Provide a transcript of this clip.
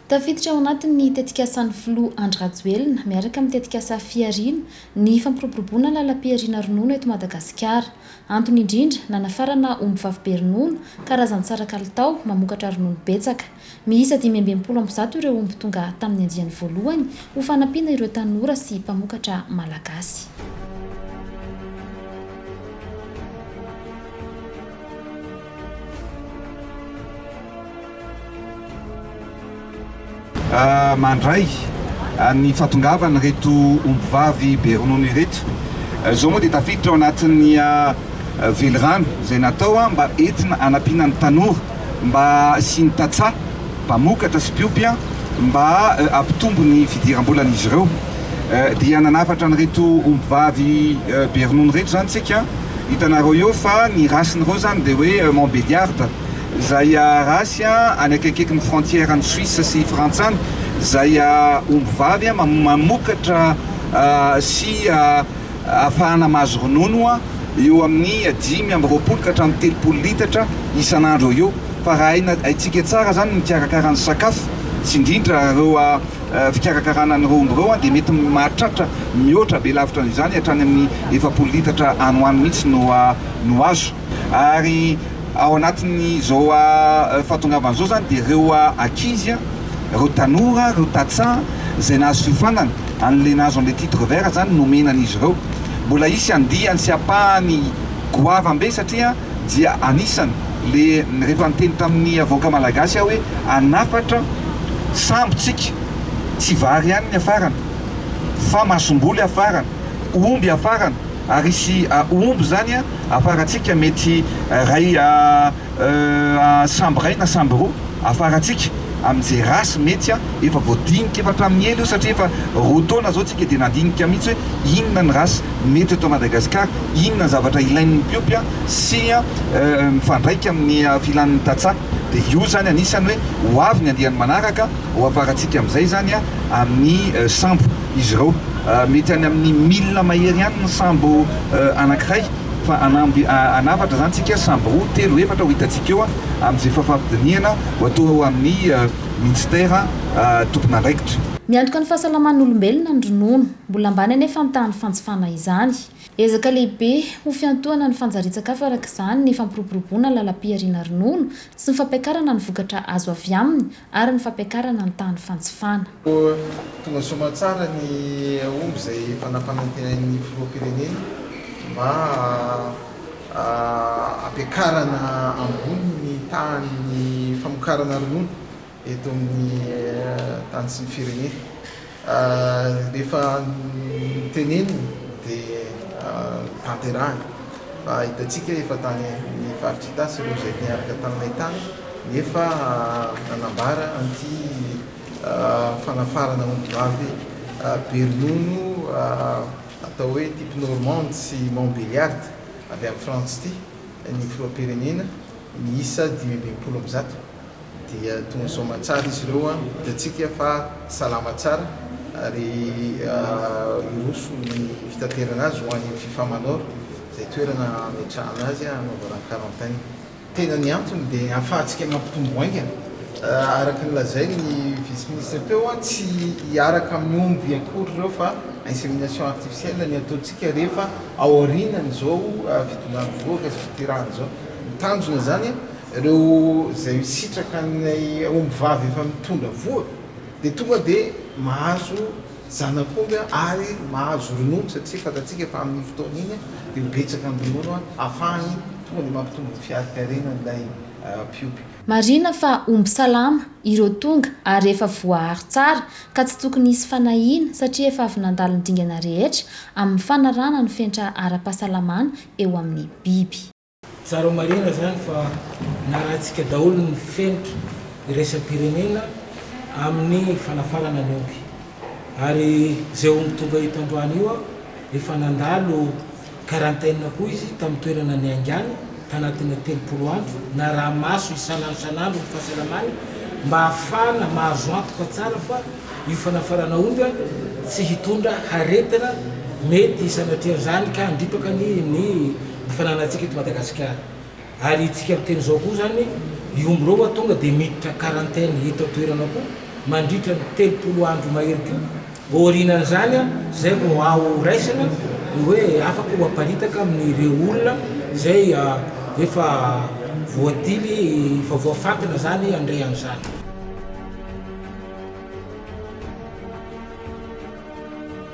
Tafiditra ao anatin'ny tetikasan'ny filoha Andry Rajoelina miaraka amin'ny tetikasa Fihariana ny fampiroboroboana lalam-pihariana ronono eto Madagasikara. Antony indrindra, nanafarana ombivavy be ronono, karazan-tsara kalitao, mamokatra ronono betsaka. Miisa dimy amby enimpolo amby zato ireo omby tonga tamin'ny andiany voalohany ho fanampiana ireo tanora sy mpamokatra malagasy. mandray ny fahatongavana reto ombivavy be ronono ireto zao moa dia tafiditra ao anatin'ny velirano izay natao mba entina anampiana ny tanora mba hasiany tantsaha mpamokatra sy mpiompy mba hampitombo ny fidiram-bolan'izy ireo dia nanafatra an'ireto ombivavy be ronono ireto izany isika hitanareo eo fa ny rasin'ireo izany dia hoe Montbéliard izay race any akaikikaiky ny frontière an'i Suisse sy Frantsa any izay ombivavy mamokatra sy ahafahana mahazo ronono eo amin'ny dimy amby roapolo ka hatramin'ny telopolo litatra isan'andro eo fa raha haina haintsika tsara izany ny mikarakara ny sakafo sy indrindra ireo fikarakarana an'ireo omby ireo dia mety mahatratra mihoatra be lavitra an'izany hatrany amin'ny efapolo litatra any ho any mihitsy no no azo ary ao anatin'izao fahatongavan'izao izany dia ireo ankizy Ireo tanora, ireo tantsaha izay nahasofànana an'ilay nahazo an'ilay titre vert izany nomena an'izy ireo. Mbola hisy andiany sy ampahany goavana be satria dia anisany ilay rehefa niteny tamin'ny avoaka malagasy aho hoe hanafatra sambo tsika, tsy vary ihany ny hafarana fa masomboly hafarana, omby hafarana ary hisy omby izany hafarantsika mety iray sambo iray na sambo roa afarantsika amin'ny ze race mety an! efa voadinika efa hatramin'ny ela io satria efa roa taona zao tsika dia nandinika mihitsy hoe inona ny race mety eto Madagascar, inona ny zavatra ilain'ny mpiompy an! sy an! mifandraika amin'ny filan'ny tantsaha dia io zany anisany hoe ho avy ny andiany manaraka ho afarantsika amin'izay zany an! amin'ny sambo izy ireo mety any amin'ny mille mahery any ny sambo anankiray. Fa hanamby hanafatra izany tsika samby roa, telo, efatra ho hitantsika eo amin'izay fafampidinihana ho atao ao amin'ny Minisitera tompon'andraikitra. Miantoka ny fahasalaman'olombelona ny ronono. Mbola ambany anefa ny tahan'ny fanjifana izany. Ezaka lehibe ho fiantohana ny fanjarian-tsakafo araka izany ny fampiroboroboana lalam-pihariana ronono sy ny fampiakarana ny vokatra azo avy aminy ary ny fampiakarana ny tahan'ny fanjifana. Tonga soamantsara ny omby izay efa nampanantenain'ny Filoham-pirenena mba hampiakarana ambony ny tahan'ny famokarana ronono eto amin'ny tany sy ny firenena. Rehefa teneniny dia tanterahiny. Fa hitantsika efa tany amin'ny faritr' Itasy ireo izay niaraka taminay tany nefa nanambara an'ity fanafarana ombivavy be ronono atao hoe type normande sy montbéliarde avy any France ity ny filoham-pirenena miisa dimy amby enimpolo amby zato. dia toa misaoma tsara izy ireo hitantsika fa salama tsara ary hiroso ny fitaterana azy ho any Fifa Manor izay toerana hametrahana azy hanaovana ny quarantaine. Tena ny antony dia hahafahantsika mampitombo haingana araka ny lazain'ny vice ministre teo, tsy hiaraka amin'ny omby akory ireo fa insémination artificielle ny ataontsika rehefa ao aorianan'izao fidonan'ny vohoka sy fitirahana izao, ny tanjona izany. Ireo izay misitraka an'ilay ombivavy efa mitondra voa dia tonga dia mahazo zanak'omby ary mahazo ronono satria fantatsika fa amin'iny fotoana iny dia ho betsaka ny ronono hafahany tonga dia mampitombo ny fiarikarenan'ilay mpiompy. Marina fa omby salama ireo tonga ary efa voaaro tsara ka tsy tokony hisy fanahiana satria efa avy nandalo ny dingana rehetra amin'ny fanarahana ny fenitra ara-pahasalamana eo amin'ny biby. Tsara marihina zany fa narahantsika daholo ny fenitra iraisam-pirenena amin'ny fanafarana ny omby ary zay omby tonga eto androany io efa nandalo quarantaine koa izy tamin'ny toerana niaingany tanatin'ny telopolo andro naraha-maso isan'andro isan'andro ny fahasalamany mba hahafahana mahazo antoka tsara fa io fanafarana omby tsy hitondra haretina mety sanatrian'izany ka handripaka ny ny ny fananantsika eto Madagasikara ary itsika miteny izao koa izany io omby ireo wa tonga dia miditra quarantaine eto an-toerana koa mandritra ny telopolo andro mahery koa aorianan'izany izay vao ao raisina ny hoe afaka ho aparitaka amin'ireo olona izay efa voadily efa voafantina izany handray an'izany.